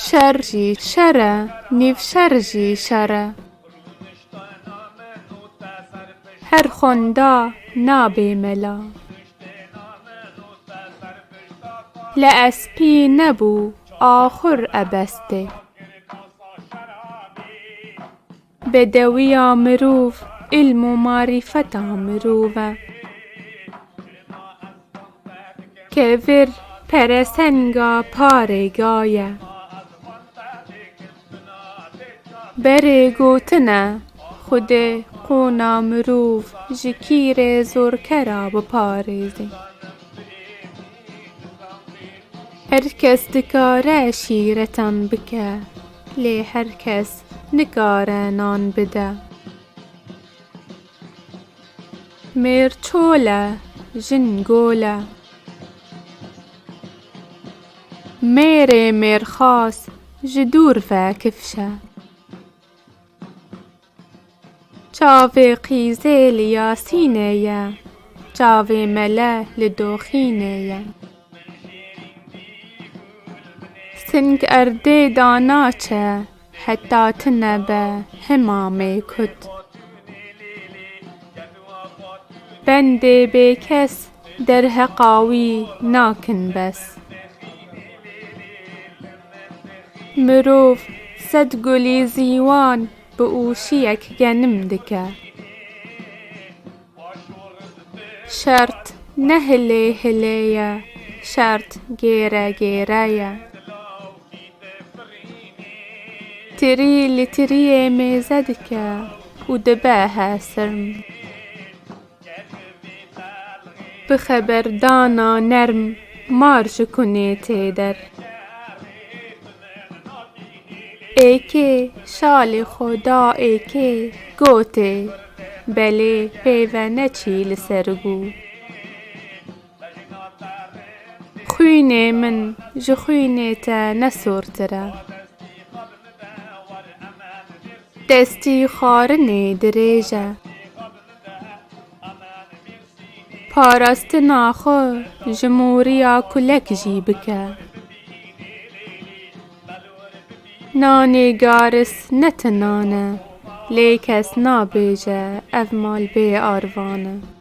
Şer jî şer e, nîvşer jî şer e. Her xwenda nabê mela. Li espî nebû axur ebestê. Bedewiya mirov îlm û marîfeta mirov e. Kevir peresenga parêga ye. Berê gotin e, Xwedê qûna mirov ji kîrê zorkera biparêzê. Her kes dikare şîretan bike. Lê her kes nikare nan bide. Mêr çol e, jin gol e. Mêrê mêrxas ji dûr ve kifş e. Çavê qîzê li Yasînê ye. Çavê mele li doxînê ye. Sing erdê da naçe heta ti nebe hema mêkut. Bendê bêkes Derheqa wî nakin bes. Mirov sed gulî zîwan bi ûşiyek genim dike. Şert ne hilê hilê ye, şert gêre gêre ye. Tirî li tiriyê mêze dike û dibe hesirm. Bi xeberdana nerm mar ji kunê tê der. Êkê şalê xwe da êkê gotê, belê pêve neçî li ser gû. Xwînê min ji xwînê te ne sortir e. Destî xwarinê dirêj e. Parastina xwe ji moriya kulek jî bike. Nanê garis ne ti nan e, lê kes nabêje ev mal bê arvan e.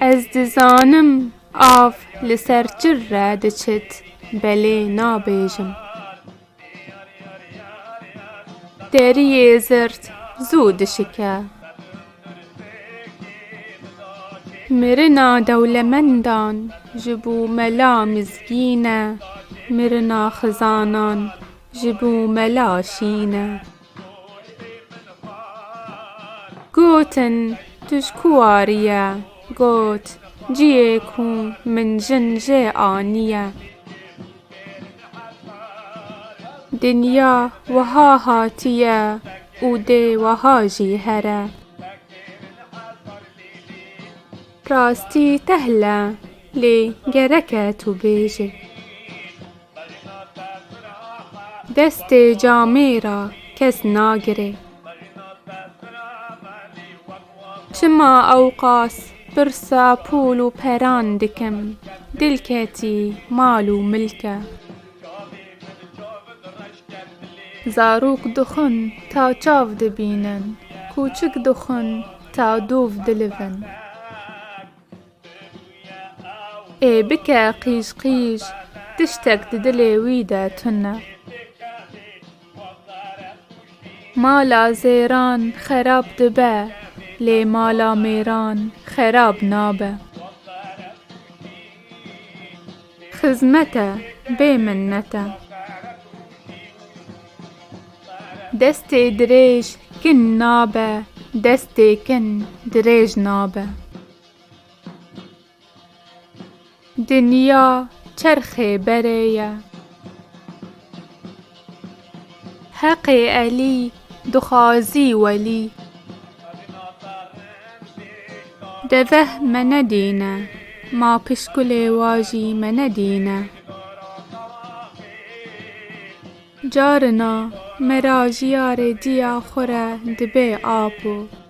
Ez dizanim av li ser çir re diçit belê nabêjim. Deriyê zirt zû dişike. Mirina dewlemendan ji bo mela mizgîn e, mirina xizanan ji bo mela şîn e. Gotin, Tu ji ku warî ye? Got, Ciyê ku min jin jê anîye. Dinya wiha hatîye û dê wiha jî here. Rastî tehl e lê gerek e tu bêjî. Destê camê ra kes nagirê. Çima ewqas pirsa pûl û peran dikim, dil ketî mal û milke. Zarok dixwin ta çav dibînin, kûçik dixwin ta dûv dilivin. Ê bike qîj qîj, tiştek di dilê wî de tun e. Mala zêran xerab dibe, lê mala mêran xerab nabe. Xizmet e, bê minnet e. Destê dirêj kin nabe, destê kin dirêj nabe. Dinya çerxê berê ye. Heqê Elî dixwazî welî. Deveh me nedîne. Ma pişkulê wa jî me nedîne. Carina me ra jiyarê diya xwe re dibê apo.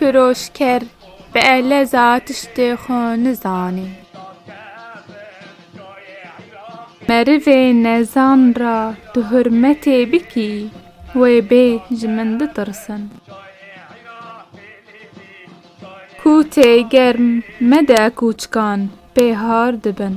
Firoşker bi eleza tiştê xwe nizanê. Merivê nezan ra tu hurmetê bikî, wê bê ji min bitirsin. Kûtê germ mede kûçikan pê har dibin.